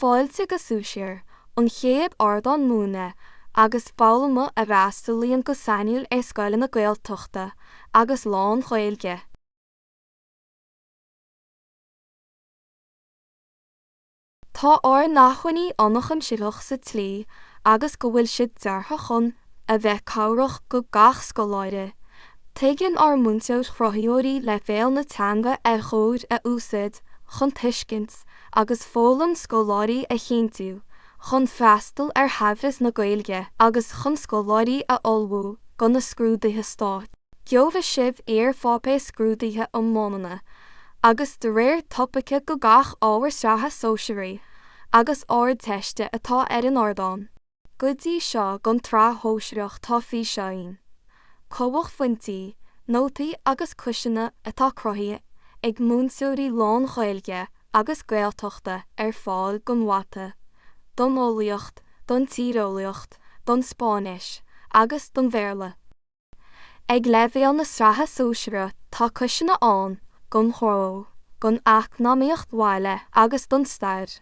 Fáilte go Sóisear, an chéad ardán múineadh agus foghlama a fhreastalaíonn go sainiúil ar scoileanna Gaeltachta agus lán-Ghaeilge. Tá ár n-acmhainní ionchuimsitheach sa tslí agus go bhfuil siad deartha chun a bheith cabhrach do gach scoláire. Tuigeann ár múinteoir-chruthaíoirí leibhéal na teanga ar chóir a úsaid chun tuiscint, agus foghlaim scoláirí a chinntiú chun freastal ar shaibhreas na Gaeilge agus chun scoláirí a ullmhú do na scrúduithe stáit. Gheobhaidh sibh iarpháipéir scrúduithe iomlána agus de réir topaice do gach ábhar Sraithe Sóisearaí agus Ardteiste atá ar an ardán. Go dtí seo don tsraith shóisearach tá físeáin, cumhachphointí, nótaí agus quizeanna atá cruthaithe ag múinteoirí lán-Ghaeilge agus Gaeltachta ar fáil don Mhata, don Eolaíocht, don Tíreolaíocht, don Spáinnis agus don Bhéarla. Ag leibhéal na sraithe sóisearaí tá quizeanna ann don Ghnó, don Eacnamaíocht Bhaile agus don Stair.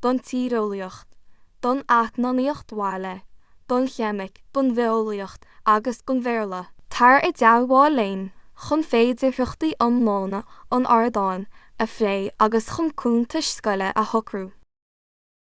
don tíreolaíocht, don eacnamaíocht bhaile, don cheimic, don bhitheolaíocht agus don Bhéarla. Tar i dteagmháil linn chun féidearthachtaí iomlána an ardáin a phlé agus chun cuntais scoile a shocrú.